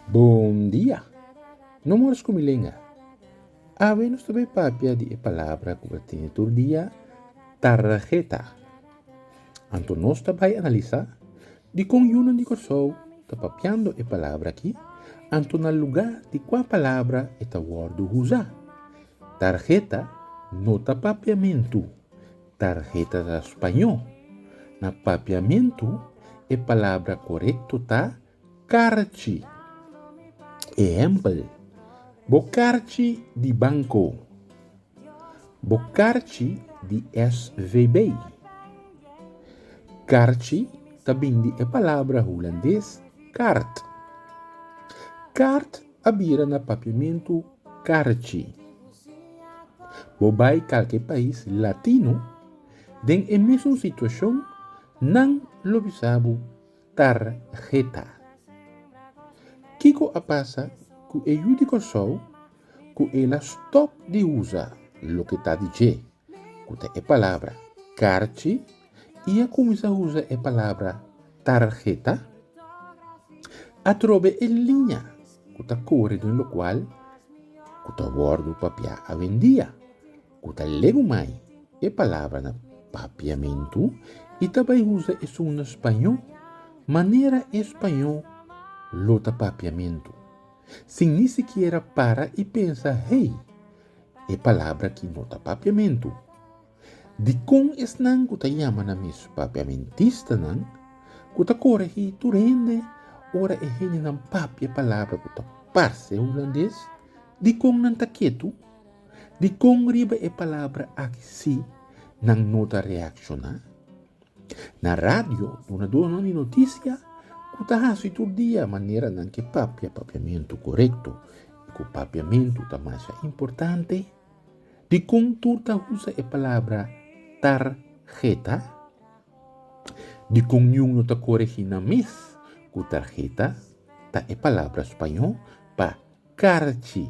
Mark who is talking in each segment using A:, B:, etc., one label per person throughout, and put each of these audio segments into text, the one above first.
A: Bon dia! No mor scomi lenga. Awe nos ta bay papia di e palabra cu bo ta tene tur dia, targeta. Anto nos ta bay analisa Dikon yunan di Kòrsou ta papiando e palabra akí, anto na lugá di kua palabra e ta wòrdu usá? Tarheta no ta papiamentu, tarheta ta spañó. Na papiamentu e palabra korekto ta karchi. Ehèmpel, Bo karchi di banko. Bo karchi di SVB. Karchi ta bini di e palabra hulandes kaart. Kaart a bira na papiamentu karchi. Bo bai kalke pais latino den e mesun situashon nan lo bisa bo Tarheta. Kiko a pasa ku e yu di Kòrsou ku el a stòp di usa loke ta di dje, ku ta e palabra karchi, i a kuminsá usa e palabra tarheta? Atrobe e liña ku ta kore den lokual ku ta wòrdu papiá awendia, ku ta leu mai e palabra na Papiamentu i ta bai usa esun na spañó manera e spañó lo ta papiamentu, sin ni sikiera para i pensa hei, e palabra aki no ta papiamentu. Dikon esnan ku ta yama nan mes papiamentistanan ku ta koregí tur hende ora e hendenan papia palabra ku ta parse hulandes, dikon nan ta ketu Dikon riba e palabra aki sí nan no ta reakshoná? Na radio, dunadónan di notisia ku ta hasi tur dia manera nan ke papia papiamentu korekto i ku papiamentu ta masha importante, dikon tur ta usa e palabra tarheta? Dikon niun no ta koregí nan mes ku tarheta ta e palabra spañó pa Karchi.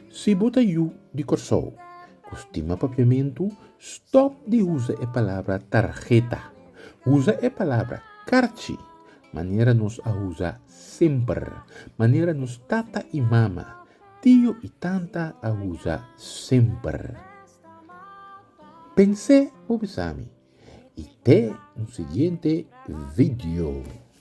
A: Si bo ta yu di Kòrsou ku stima papiamentu, stòp di usa e palabra tarheta. Usa e palabra karchi manera nos a usa semper, manera nos tata i mama, tio i tanta a usa semper. Pens'é bo bisami i te un siguiente video.